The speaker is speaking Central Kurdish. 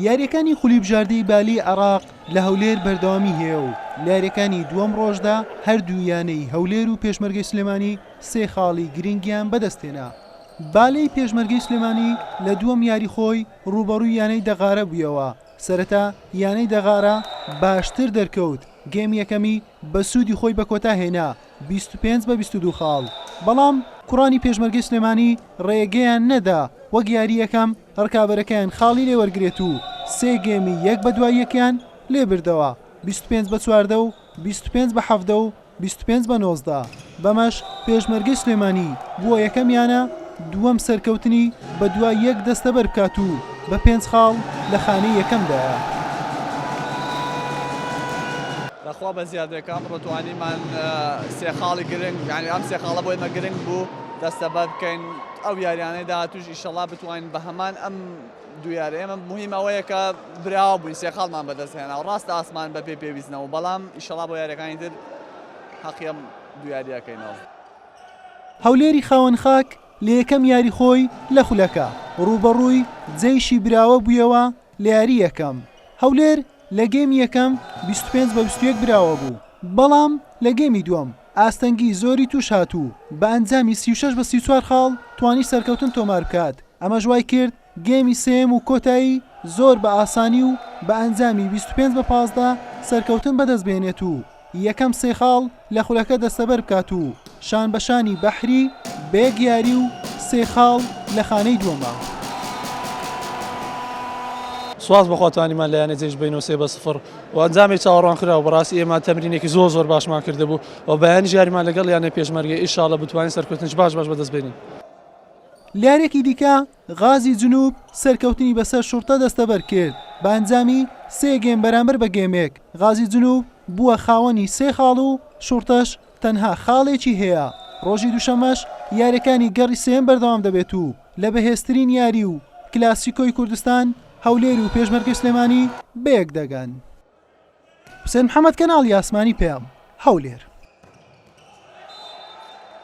یارییەکانی خولی بژاردەی بالی عێراق لە هەولێر بەردەوامی هەیە و لە یاریەکانی دووەم ڕۆژدا هەردوو یانەی هەولێر و پێشمەرگەی سلێمانی سێ خاڵی گرنگیان بەدەستێنا بالەی پێشمەرگەی سلێمانی لە دووەم یاری خۆی ڕوبەڕووی یانەی دەغارە بوویەوە سەرەتا یانەی دەغارە باشتر دەرکەوت گەیمی یەکەمی بە سوودی خۆی بە کۆتا هێنا بیست و پێنج بە بیست و دوو خاڵ، بەڵام کوڕانی پێشمەرگەی سلێمانی رێگەیان نەدا وەک یاری یەکەم رکابەرەکەیان خاڵی لێ وەرگرێت و سێ گێمی یەک بە دوای یەکیان لێ بردەوە، بیست و پێنج بە چواردە و بیست و پێنج بە حەڤدە و بیست و پێنج بە نۆزدە، بەمەش پێشمەرگەی سلێمانی بووە یەکەم یانە. دووەم سەرکەوتنی بەدوای یەک دەستەبەر بکات و بە پێنج خاڵ لە خانەی یەکەمدایە. بەخوا بە زیادەکە ئەمڕۆ توانیمان سێ خاڵی گرنگ یانی ئەم سێ خاڵە بۆ ئێمە گرنگ بوو دەستەبەر بکەین ئەو یاریانەی داهاتووش ئیشەڵا بتوانین بە هەمان ئەم دوو یارە ئێمە مهم ئەوەیە کە براوە بووین سێ خاڵمان بەدەست هێنا و ڕاستە ئاسمان بەپێی پێویستنەوە بەڵام ئیشەڵا بۆ یاریەکانی تر هەقیم دوو یاریەکەینەوە. هەولێری خاوەن خاک لە یەکەم یاری خۆی لە خولەکە، رووبەڕووی جەیشی براوە بوویەوە لە یاری یەکەم، هەولێر لە گێمی یەکەم بیست و پێنج بە بیست و یەک براوە بوو، بەڵام لە گێمی دووەم ئاستەنگی زۆری تووش هات و بە ئەنجامی سی و شەش بە سی و چوار خاڵ توانی سەرکەوتن تۆمار بکات، ئەمەش وایکرد گێمی سێیەم و کۆتایی زۆر بە ئاسانی و بە ئەنجامی بیست و پێنج بە پازدە سەرکەوتن بەدەست بێنێت و یەکەم سێ خاڵ لە خولەکە دەستەبەر بکات و شان بە شانی بەحری بێگ یاری و سێ خاڵ لە خانەی دووەمە. سوپاس بەخوا توانیمان لە یانەی جەیش ببەینەوە سێ بە سفر و ئەنجامێکی چاوەڕوانکراو بەڕاستی ئێمە تەمرینێکی زۆر زۆر باشمان کردبوو و بەیانیش یاریمان لەگەڵ یانەی پێشمەرگە ئیشاڵڵە بتوانین سەرکەوتنێکی باش باش بەدەست بێنین. لارێکی دیکە غازی جنوب سەرکەوتنی بەسەر شوڕتە دەستەبەر کرد بە ئەنجامی سێ گێم بەرامبەر بە گێمێک، غازی جنوب بووە خاوەنی سێ خاڵ و شوڕتەش تەنها خاڵێکی هەیە، ڕۆژی دووشەممەش یاریەکانی گەڕی سێیەم بەردەوام دەبێت و لە بەهێزترین یاری و کلاسیکۆی کوردستان هەولێر و پێشمەرگەی سلێمانی بەیەک دەگەن.